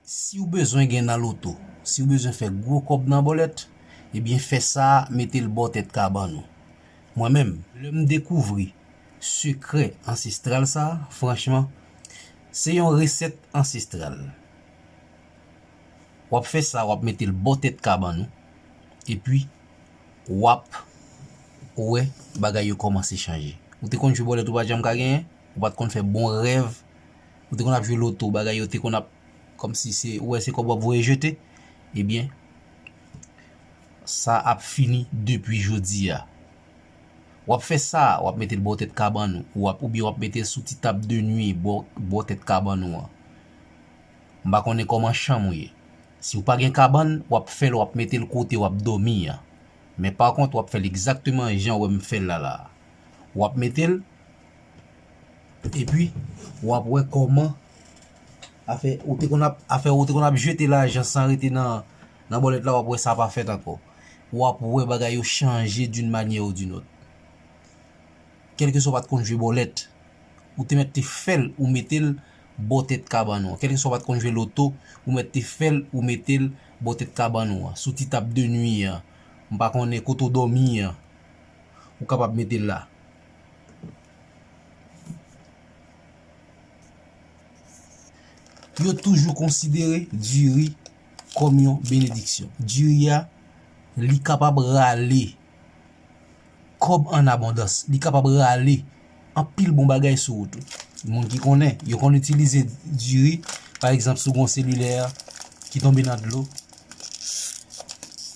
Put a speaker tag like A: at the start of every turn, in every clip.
A: Siw bezwen gen nan loto, siw bezwen fè gwo kòb nan bòlèt, ebyen fè sa metel bò tèt kabann ou. Mwen menm, lèm dekouvri sekrè ansestral sa, franchman, se yon resèt ansestral. Wap fè sa wap metel bò tèt kabann ou, epi wap wè bagay yo kòmanse chanje. Ou te konn jwe bòlèt ou pat janm ka genyen, ou pat konn fè bon rèv. Ou te konn ap jwe loto bagay yo te konn ap kòmsi se ou wè se kòb wap voye jete ebyen sa ap fini depi jodi a. Wap fè sa wap mete l bò tèt kabann ou wap oubyen wap mete l sou ti tab de nwi bò tèt kabann ou an. M pa konnen kòman chanm ou ye. Si ou pa gen kabann wap fè l wap mete l kote wap dòmi an. Men pa kont wap fè l egzakteman jan ou wè m fè l la la a. Wap mete l. Epi wap wè kòman afè ou te konn ap afè ou te konn ap jete lajan san rete nan nan bòlèt la wap wè sa pa fèt ankò. Wap wè bagay yo chanje d'une manière ou d'une autre. Kèlkeswa ou pat konn jwe bòlèt, ou te mèt te fèl ou metel bò tèt kabann ou an. Kèlkeswa ou pat konn jwe loto, ou mèt te fèl ou metel bò tèt kabann ou an. Sou ti tab de nwi an, m pa konnen kote ou dòmi an, ou kapab metel la. Yo toujou konsidere diri kòm yon benediksyon. Diri a, li kapab rale kòb an abondans. Li kapab rale anpil bon bagay sou ou tou. Moun ki konnen, yo konn itilize diri, pa egzanp si w gen yon selilè ki tonbe nan dlo,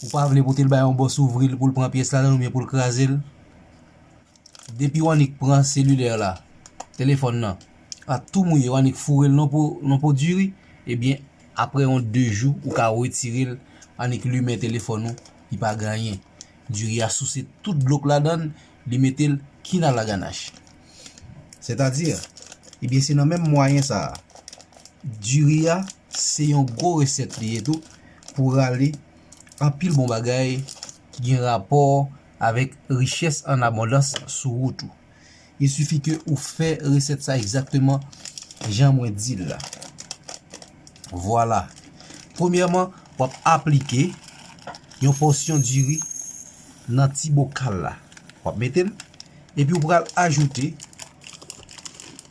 A: ou pa vle pote l bay yon bòs ouvri l pou l pran pyès la, oubyen pou l kraze l. Depi w annik pran selilè la, telefòn nan, a tou mouye, w annik foure l nan po diri, ebyen, apre yon 2 jou, ou ka wetire l, annik limen telefòn ou, li pa gen anyen. Diri a souse tout dlo k ladan l, li mete l kinalaganach. Sètadi, ebyen, se nan menm mwayen sa a. Diri a, se yon gwo resèt li ye tou, pou rale anpil bon bagay ki gen rapò avèk richès an abondans sou wout ou. Il suffit ke ou fè resèt sa egzakteman jan mwen di l la. Vwala. Premyèman, w ap aplike yon pòsyon diri nan ti bokal la. W ap mete l, epi ou pral ajoute.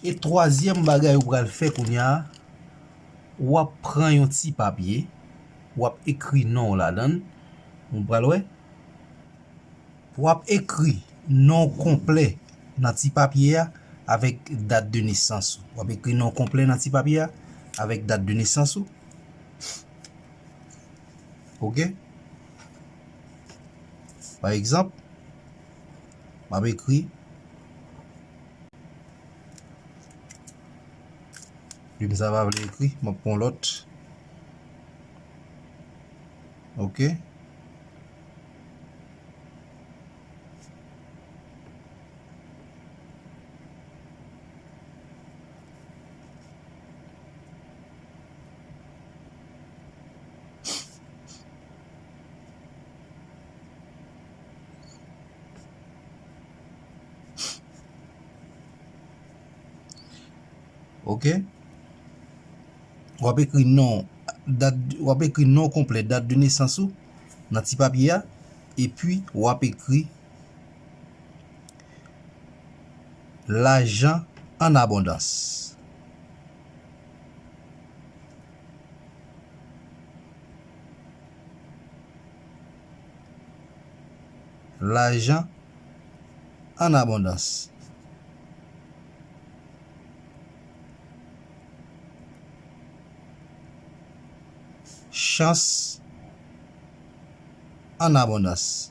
A: E twazyèm bagay ou pral fè kounya, ou ap pran yon ti papye, ou ap ekri non w ladan l, ou pral wè, ou ap ekri non w konplè nan ti papye a avèk dat de nesans ou, ou ap ekri non w konplè nan ti papye a avèk dat de nesans ou, ok, pa egzanp. Map ekri Plim sa pa vle ekri Map pran yon lòt Ok Ok Wap ekri non Dat Wap ekri non konplè Dat de nesans ou Nan ti papye a Epi wap ekri Lajan an abondans Lajan an abondans. Chans an abondans.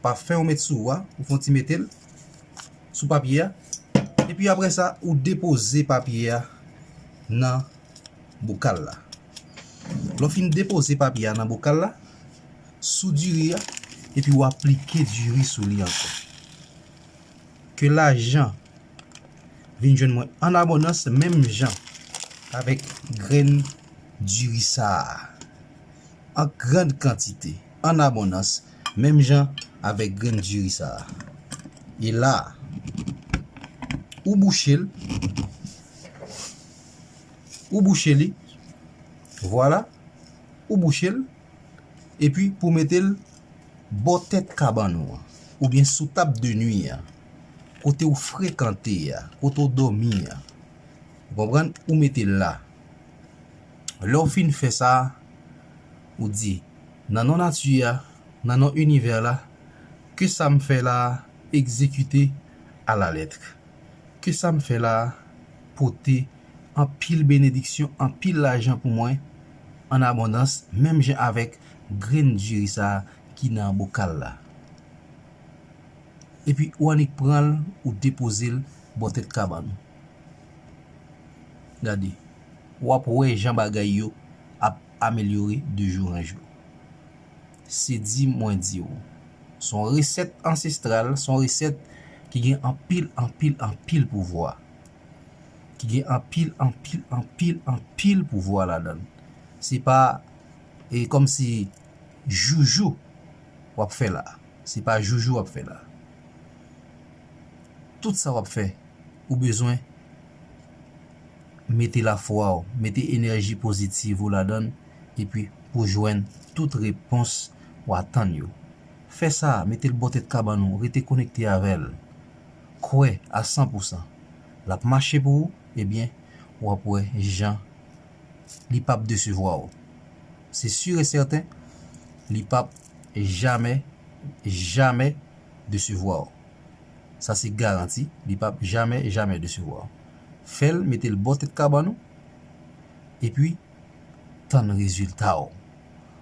A: Pafen ou met sou ou a, ou fon ti mete l sou papye a. E pi apre sa, ou depoze papye a nan bokal la. Lè w fin depoze papye a nan bokal la, sou diri a, e pi ou aplike diri sou li ankò. Ke lajan vin jwenn mwen an abondans menm jan avèk grenn diri sa a. An grand kantite. an abondans menm jan avèk grenn diri sa a. E la a, ou bouche l, ou bouche li, vwala, ou bouche l, epi pou w mete l bò tèt kabann ou an, oubyen sou tab de nui an, kote ou frekante a, kote ou dòmi a, ou konprann, ou mete l la. Lè w fin fè sa, ou di, Nan non nati a, nan non inivè la, ke sa m fè la a egzekite alalètre. Ke sa m fè la a pote anpil benediksyon, anpil lajan pou mwen an abondans, menm jan avèk grenn diri sa a ki nan bokal la. Epi ou annik pran l, ou depoze l bò tèt kabann ou. Gade, wap wè jan bagay yo ap amelyore de jou an jou. Se di mwen di w, se yon resèt ansestral, se yon resèt ki gen anpil, anpil, anpil pouvwa. Ki gen anpil, anpil, anpil, anpil pouvwa ladan l. Se pa, e kòm si joujou wap fè la. Se pa joujou wap fè la. Tout sa wap fè ou bezwen mete lafwa w, mete enèji pozitiv ou ladann epi pou jwenn tout repons ou atann yo. Fè sa, mete l bò tèt kabann ou, rete konekte avè l. Kwè a san pou san. Lap mache pou ou, ebyen wap wè jan li pap desevwa w se sur e sèten li pap jamè jamè desevwa w sa se garanti li pap jamè jamè desevwa w fè l mete l bò tèt kabann ou epi tann rezilta w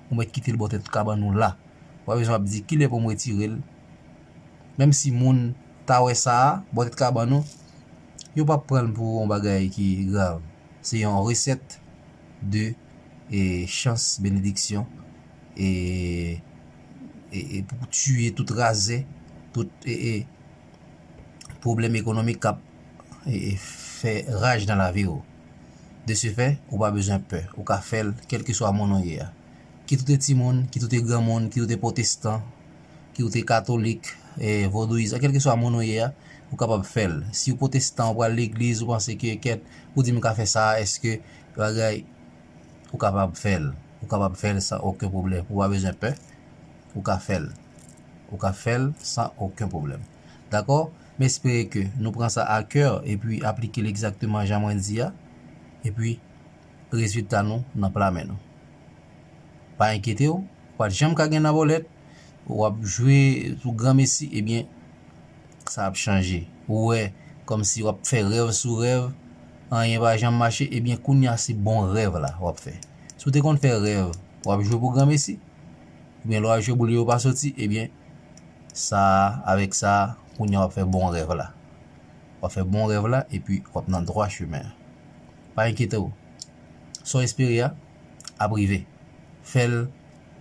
A: ou mèt kite l bò tèt kabann ou la ou pa bezwen ap di kilè pou m retire l menm si moun ta wè sa bò tèt kabann ou yo pap pran l pou yon bagay ki grav. Se yon resèt de e chans benediksyon e e pou tiye tout razè, tout e e pwoblèm ekonomik kap e e fè raj nan lavi ou. De se fè, ou pa bezwen pè, ou ka fèl kèlkeswa moun ou ye a. Kit ou te timoun, kit ou te granmoun, kit ou te pwotestan, ke ou te katolik, vodouyis, a kelke swa moun ou ye a, ou kapab fè l. Si ou potestan, ou pral legliz, ou panse ke kèt, ou di m ka fè sa a, eske bagay, ou kapab fè l. Ou kapab fè l san oken pwoblèm. Ou pa bezwen pè, ou ka fè l. Ou ka fè l san oken pwoblèm. Dakò? M espere ke nou pran sa a kè, epi aplike l egzakteman jan mwen di a, epi Rezilta nou nan pla men nou. Pa enkyete w, ou pa t janm ka gen nan bòlèt, w ap jwe pou granmesi, ebyen, sa ap chanje. Ou wè kòmsi w ap fè rèv sou rèv, anyen pa janm mache, ebyen kounya se bon rèv la w ap fè. Si w te konn fè rèv w ap jwe pou granmesi, ebyen lè w al jwe boul yo yo pa soti, ebyen sa a, avèk sa a, kounya w ap fè bon rèv la. W ap fè bon rèv la epi w ap nan dwa chemen an. Pa enkyete w. Sa w espere a, ap rive. Fè l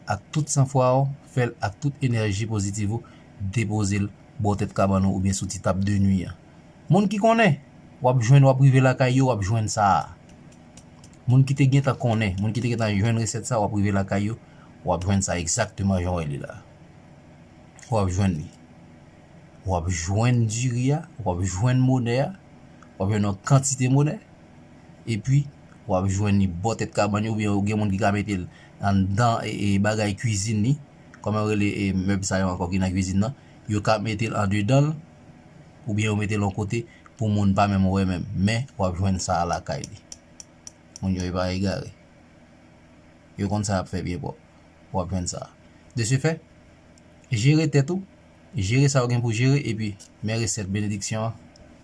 A: ak tout san fwa w, fè l ak tout enèji pozitiv ou, depoze l bò tèt kabann ou oubyen sou ti tab de nwi a. Moun ki konnen, w ap jwenn w ap rive lakay yo w ap jwenn sa a. Moun ki te gentan konnen, moun ki te gentan jwenn resèt sa a w ap rive lakay yo w ap jwenn sa egzakteman jan w wè li la a. W ap jwenn li. w ap jwenn diri a, w ap jwenn monè a, w ap jwenn yon kantite monè, epi w ap jwenn li bò tèt kabann yo oubyen gen moun ki ka mete l anndan bagay kuizin li, kòman yo rele mèb sa yo ankò ki nan kuizin nan, yo ka mete l andedan l oubyen yo mete l yon kote pou moun pa menm wè menm, men w ap jwenn sa a lakay li. Moun yo e pa egare. Yo konn sa y ap fè byen pwòp. W ap jwenn sa a. De se fè, jere tèt ou. Jere sa ou gen pou jere epi men resèt benediksyon an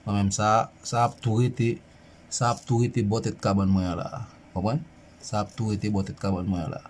A: mwen menm sa a, sa ap tou rete, sa ap tou rete bò tèt kabann mwen an la a. Konprann? Sa ap tou rete bò tèt kabann mwen an la a.